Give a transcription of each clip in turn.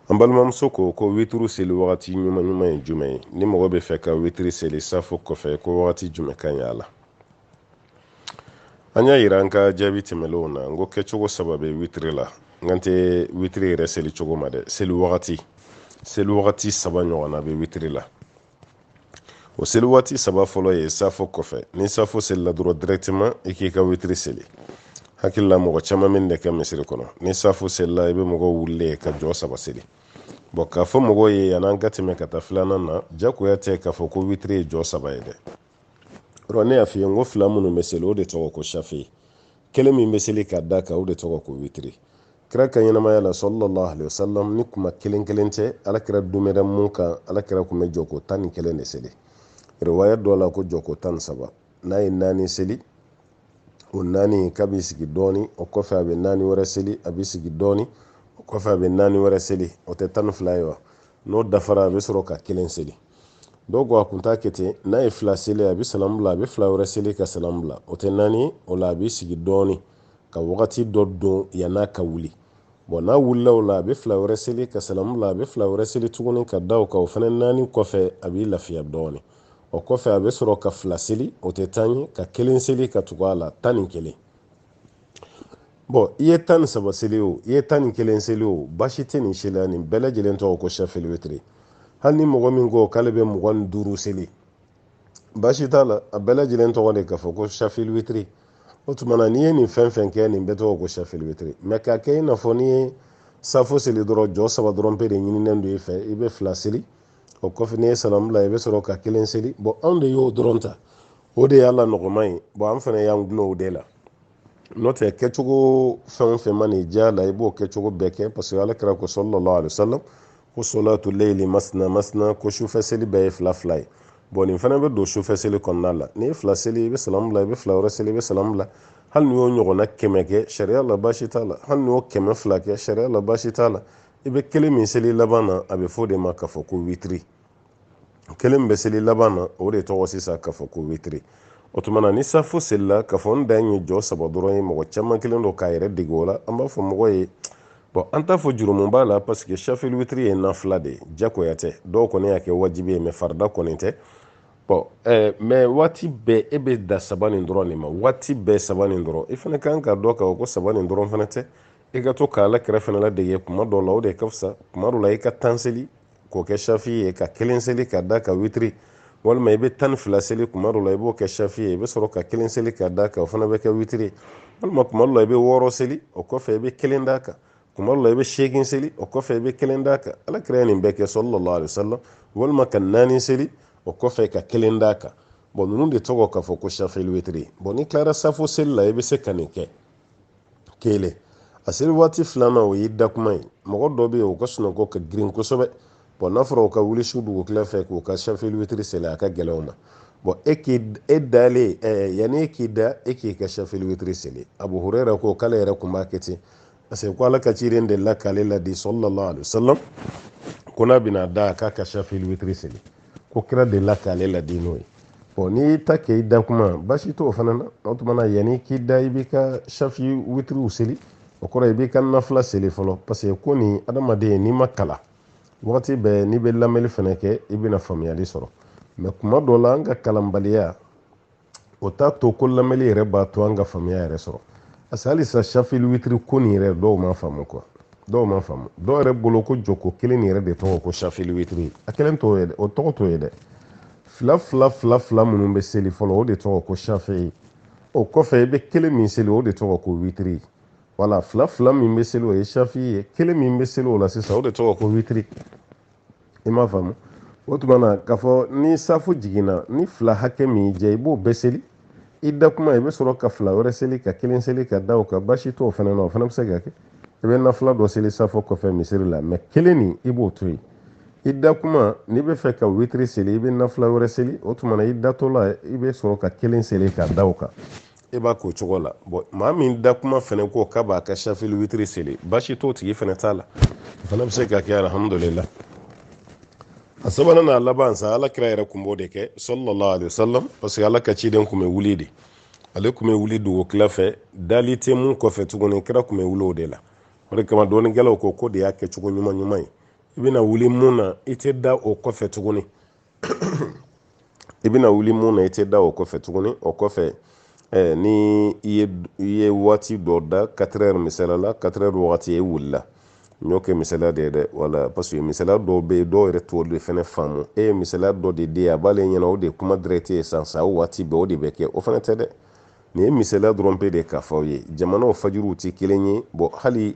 an balimamuso ko ko witiri seli wagati ɲuman ɲuman ye jumɛn ye ni mɔgɔ bɛ fɛ ka witiri seli safo kɔfɛ ko wagati jumɛn ka ɲi a la an y'a yira an ka jaabi tɛmɛlenw na n ko kɛcogo saba bɛ witiri la n kan tɛ witiri yɛrɛ seli cogo ma dɛ seli wagati seli wagati saba ɲɔgɔnna bɛ witiri la o seli waati saba fɔlɔ ye safo kɔfɛ ni safo selila dɔrɔn directement i k'i ka witiri seli hakili la mɔgɔ caman min de kɛ misiri kɔnɔ ni safo selila i bɛ mɔgɔw wulilen ye ka jɔ saba seli bon k'a fɔ mɔgɔw ye yan'an ka tɛmɛ ka taa filanan na jagoya tɛ k'a fɔ ko witiri ye jɔ saba ye dɛ ne y'a f'i ye n ko fila minnu bɛ seli o de tɔgɔ ko safe kelen min bɛ seli ka d'a kan o de tɔgɔ ko witiri kira ka ɲɛnamaya la sallallahu alaihi wasallam ni kuma kelen kelen tɛ ala kira dumɛra mun kan ala kira kun bɛ jɔko tan ni kelen de seli riwaya dɔ la ko jɔko tan ni saba n'a ye naani seli o naani kɔ a b'i sigi dɔɔni o kɔfɛ a bɛ naani wɛrɛ seli a b'i sigi dɔɔni o kɔfɛ a bɛ naani wɛrɛ seli o tɛ tan ni fila ye wa n'o dafara a bɛ sɔrɔ ka kelen seli dɔw ko a kun t'a kɛ ten n'a ye fila seli a bɛ salam bila a bɛ fila wɛrɛ seli ka salam bila o tɛ naani o la a b'i sigi dɔɔni ka wagati dɔ don yan'a ka wuli bon n'a wulila o la a bɛ fila wɛrɛ seli ka salam bila a bɛ fila wɛrɛ seli tuguni ka da o kan o fana naani kɔfɛ a b'i lafiya dɔɔni o kɔfɛ a bɛ sɔrɔ ka fila seli o tɛ tan ye ka kelen seli ka tugu a la tan ni kelen bon i ye tan ni saba seli o i ye tan ni kelen seli o basi tɛ nin si la nin bɛɛ lajɛlen tɔgɔ ko safeli witiri hali ni mɔgɔ min ko k'ale bɛ mugan ni duuru seli basi t'a la a bɛɛ lajɛlen tɔgɔ de k'a fɔ ko safeli witiri o tuma na n'i ye nin fɛn fɛn kɛ nin bɛɛ tɔgɔ ko safeli witiri mais k'a kɛ i n'a fɔ n'i ye safo seli dɔrɔn jɔ saba dɔrɔn pe de ɲininen don i fɛ i bɛ fila seli o kɔfɛ n'i ye salamu bila i bɛ sɔrɔ ka kelen seli bon anw de y'o dɔrɔn ta o de y'a la nɔgɔman ye bon an fana y'an gulon o de la n'o tɛ kɛcogo fɛn o fɛn man'i diya la i b'o kɛcogo bɛɛ kɛ parce que ala kira ko sallallahu alaihi wasallam ko solatu layli masna masna ko sufɛ seli bɛɛ ye fila fila ye bon nin fana bɛ don sufɛ seli kɔnɔna la n'i ye fila seli i bɛ salamu bila i bɛ fila wɛrɛ seli i bɛ salamu bila hali n'i y'o ɲɔgɔnna kɛmɛ kɛ sariya la baasi t'a la hali n'i y'o kɛmɛ fila kɛ sariya la baasi t'a la i bɛ kelen min seli laban na a bɛ fɔ o de ma k'a fɔ ko witiri o kelen min bɛ seli laban na o de tɔgɔ sisan k'a fɔ ko witiri o tuma na ni safo selila k'a fɔ n dan ye jɔ saba dɔrɔn ye mɔgɔ caman kɛlen don k'a yɛrɛ dege o la an b'a fɔ mɔgɔ ye bon an t'a fɔ jurumu b'a la parce que safeli witiri ye nafila de ye jagoya tɛ dɔw kɔni y'a kɛ wajibi ye mais farida kɔni tɛ bon ɛɛ mais waati bɛɛ e bɛ dan saba nin dɔrɔn de ma waati bɛɛ saba nin dɔrɔn i fana kan k'a dɔn k'a fɔ ko saba nin dɔrɔn fana tɛ i ka to k'ala kira fana ladege kuma dɔw la o de ka fisa kuma dɔw la i ka tan seli k'o kɛ safi ye ka kelen seli ka d'a kan witiri walima i bɛ tan ni fila seli kuma dɔ la i b'o kɛ safi ye i bɛ sɔrɔ ka kelen seli ka d'a kan o fana bɛ kɛ witiri walima kuma dɔ la i bɛ wɔɔrɔ seli o kɔfɛ i bɛ kelen d'a kan kuma dɔ la i bɛ seegin seli o kɔfɛ i bɛ kelen d'a kan ala kira ye nin bɛɛ kɛ sallallahu alaihi wasallam walima ka naani seli o kɔfɛ ka kelen d'a kan bɔn ninnu de tɔgɔ k'a fɔ ko safili witiri bɔn n'i tilara safo seli la i bɛ se ka nin kɛ kelen a seli waati filanan o y'i da kuma ye mɔgɔ dɔ bɛ yen o ka sunɔgɔ ka girin kosɛbɛ bɔn n'a fɔra o ka wuli su dugukila fɛ k'o ka safili witiri seli a ka gɛlɛn o ma bɔn e k'i e dalen ɛɛ yanni e k'i da e k'i ka safili witiri seli abu hurera ko k'ale yɛrɛ kun b'a kɛ ten parce que ko ala ka ciden de la k'ale ladi sallallahu alaihi wasallam ko n'a bɛna da k'a ka safili witiri seli ko kira de la k'ale ladi n'o ye bɔn n'i y'i ta kɛ i da kuma basi t'o fana na o tuma na yanni k'i da i b'i ka safi witiriw seli o kɔrɔ i b'i ka nafila seli fɔlɔ parce que ko nin adamaden n'i ma kalan wagati bɛɛ n'i bɛ lamɛnni fana kɛ i bɛna faamuyali sɔrɔ mɛ kuma dɔ la an ka kalanbaliya o t'a to ko lamɛnli yɛrɛ b'a to an ka faamuya yɛrɛ sɔrɔ parce que halisa safili witiri ko nin yɛrɛ dɔw m'a faamu kuwa dɔw m'a faamu dɔw yɛrɛ bolo ko jɔko kelen nin yɛrɛ de tɔgɔ ko safili witiri a kelen t'o ye dɛ o tɔgɔ t'o ye dɛ fila fila fila fila minnu bɛ seli fɔlɔ o de tɔgɔ ko safi o kɔfɛ i bɛ kelen min seli o de tɔgɔ ko witiri wala fila fila min bɛ seli o ye safi ye kelen min bɛ seli o la sisan o de tɔgɔ ko witiri i m'a faamu o tuma na k'a fɔ ni safo jiginna nafila hakɛ min y'i jɛ i b'o bɛɛ seli i da kuma i bɛ sɔrɔ ka fila wɛrɛ seli ka kelen seli ka da o kan basi t'o fana na o fana bɛ se ka kɛ i bɛ nafila dɔ seli safo kɔfɛ misiri la mɛ kelen nin i b'o to yen i da kuma n'i b'a fɛ ka witiri seli i bɛ nafila wɛrɛ seli o tuma na i datɔ la i bɛ sɔrɔ ka kelen seli ka da o kan i b'a k'o cogo la bɔn maa min da kuma fɛnɛ ko k'a b'a ka safili witiri seli basi t'o tigi fɛnɛ t'a la o fana bɛ se ka kɛ alhamdulillah a sabanan n'a laban sa ala kira yɛrɛ kun b'o de kɛ sallallahu alaihi wasallam parce que ala ka ciden kun bɛ wuli de ale kun bɛ wuli dugukila fɛ dali tɛ mun kɔfɛ tuguni kira kun bɛ wuli o de la o de kama dɔnnikɛlaw ko k'o de y'a kɛcogo ɲuman ɲuman ye i bɛna wuli mun na i tɛ da o kɔfɛ tuguni i bɛna wuli mun na i tɛ da o kɔfɛ tuguni o kɔfɛ eh, ni i ye waati dɔ da katerɛri misala la katerɛri wagati e wulila n y'o kɛ misala de ye dɛ wala paseke misala dɔw bɛ yen dɔw yɛrɛ t'o de fɛnɛ faamu e ye misala dɔ de di a b'ale ɲɛna o de ye kuma direct ye san sa o waati bɛɛ o de bɛ kɛ o fana tɛ dɛ nin ye misala dɔrɔn pe de ye k'a fɔ aw ye jamanaw fajiriw tɛ kelen ye bɔn hali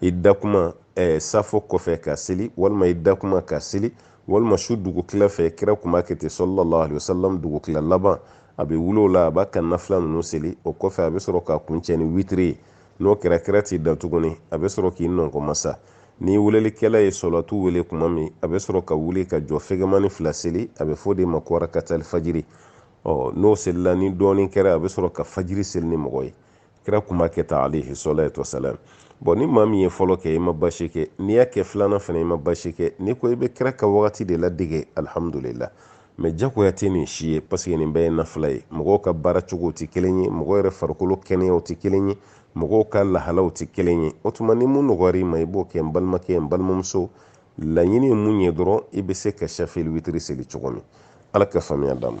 i dakuma eh, safo kɔfɛ ka seli walima i dakuma ka seli walima su dugutila fɛ kira kun b'a kɛ ten sallallahu alayhi wa sallam dugutila laban a bɛ wuli o la a b'a ka nafila ninnu seli o kɔfɛ a bɛ sɔrɔ ka kuncɛ ni witiri ye n'o kɛra kira t'i da tuguni a bɛ sɔrɔ k'i nɔnkɔmasa ni welelikɛla ye salatu wele kuma min a bɛ sɔrɔ ka wuli ka jɔ fɛgɛmani fila seli a bɛ fɔ de ma ko rakatali fajiri ɔ n'o selila ni dɔɔnin kɛra a bɛ sɔrɔ ka fajiri seli ni mɔgɔ ye kira kun b'a kɛ tan alayhi salatu wa salam bɔn ni maa min ye fɔlɔ kɛ i ma basi kɛ n'i y'a kɛ filanan fana i ma basi kɛ n'i ko i bɛ kira ka wagati de ladege alihamudulila mɛ jagoya tɛ nin si ye paseke nin bɛɛ ye nafila ye mɔgɔw ka baara cogow tɛ kelen ye mɔgɔw yɛrɛ farikolo kɛnɛyaw tɛ kelen ye mɔgɔw ka lahalaw tɛ kelen ye o tuma ni mun nɔgɔyara i ma i b'o kɛ n balimakɛ n balimamuso laɲini ye mun ye dɔrɔn i bɛ se ka safa ni witiri seli cogo min ala ka faamuya d'an ma